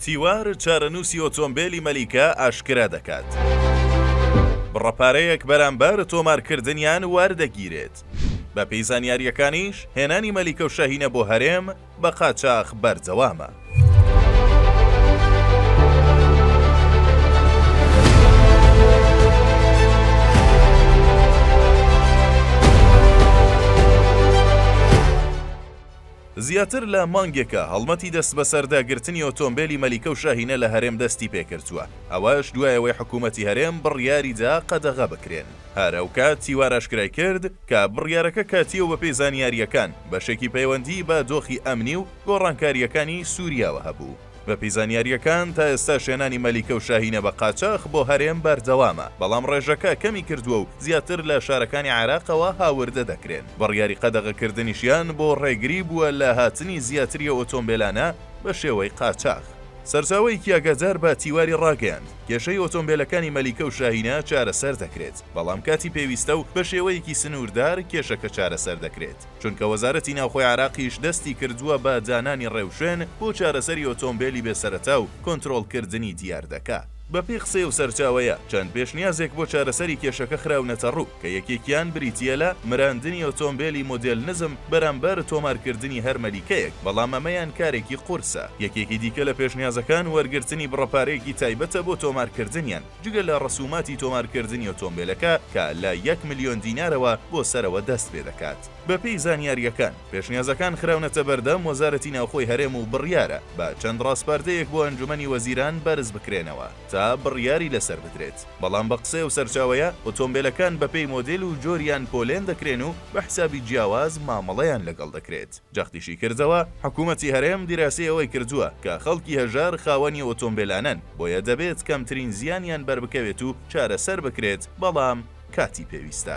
تیوار چارەنووسی ئۆتۆمبێلی مەلیکە ئاشکرا دەکات، بڕە پارەیەک بەرامبەر تۆمارکردنیان وەردەگیرێت، بەپێی زانیارییەکانیش هێنانی مەلیکە و شاهینە بۆ هەرێم بە قاچاخ بەردەوامە. زیاتر لە مانگێکە هەڵمەتی دەستبەسەرداگرتنی ئۆتۆمبێلی مەلیکە و شاهینە لە هەرێم دەستی پێکردووە، ئەوەش دوای ئەوەی حکوومەتی هەرێم بڕیاری دا قەدەغە بکرێن. هەر ئەوکات تیوار ئاشکرای کرد کە بڕیارەکە کاتییە و بەپێی زانیارییەکان بەشێکی پەیوەندیی بە دۆخی ئەمنی و گۆڕانکارییەکانی سووریاوە هەبوو. بەپێی زانیارییەکان، تا ئێستاش هێنانی مەلیکە و شاهینە بە قاچاخ بۆ هەرێم بەردەوامە، بەڵام ڕێژەکە کەمی کردووە و زیاتر لە شارەکانی عێراقەوە هاوردە دەکرێن، بڕیاری قەدەغەکردنیشیان بۆ ڕێگری بووە لە هاتنی زیاتری ئۆتۆمبێلانە بە شێوەی قاچاخ. سەرچاوەیەکی ئاگادار بە تیواری ڕاگەیاند، کێشەی ئۆتۆمبێلەکانی مەلیکە و شاهینە چارەسەر دەکرێت، بەڵام کاتی پێویستە و بە شێوەیەکی سنووردار کێشەکە چارەسەر دەکرێت. چونکە وەزارەتی ناوخۆی عێراقیش دەستی کردووە بە دانانی ڕێوشوێن بۆ چارەسەری ئۆتۆمبێلی بێ سەرەتا و کۆنترۆڵکردنی دیاردەکە. بەپێی قسەی ئەو سەرچاوەیە، چەند پێشنیازێک بۆ چارەسەری کێشەکە خراونەتەڕوو، کە یەکێکیان بریتییە لە مراندنی ئۆتۆمبێلی مۆدێل نزم بەرامبەر تۆمارکردنی هەر مەلیکەیەک، بەڵام ئەمەیان کارێکی قورسە. یەکێکی دیکە لە پێشنیازەکان وەرگرتنی بڕە پارەیەکی تایبەتە بۆ تۆمارکردنیان، جگە لە ڕسوماتی تۆمارکردنی ئۆتۆمبێلەکە کە لە یەک ملیۆن دینارەوە بۆ سەرەوە دەست پێ دەکات. بەپێی زانیارییەکان، پێشنیازەکان خراونەتە بەردەم وەزارەتی ناوخۆی هەرێم و بڕیارە بە چەند ڕاسپاردەیەک بۆ ئەنجومەنی وەزیران بەرز بکرێنەوە تا بڕیاری لەسەر بدرێت، بەڵام بە قسەی ئەو سەرچاوەیە، ئۆتۆمبێلەکان بەپێی مۆدێل و جۆریان پۆلێن دەکرێن و بە حسابی جیاواز مامەڵەیان لەگەڵ دەکرێت. جەختیشی کردەوە، حکومەتی هەرێم دیراسەی ئەوەی کردووە کە خەڵکی هەژار خاوەنی ئۆتۆمبێلانەن، بۆیە دەبێت کەمترین زیانیان بەربکەوێت و چارەسەر بکرێت، بەڵام کاتی پێویستە.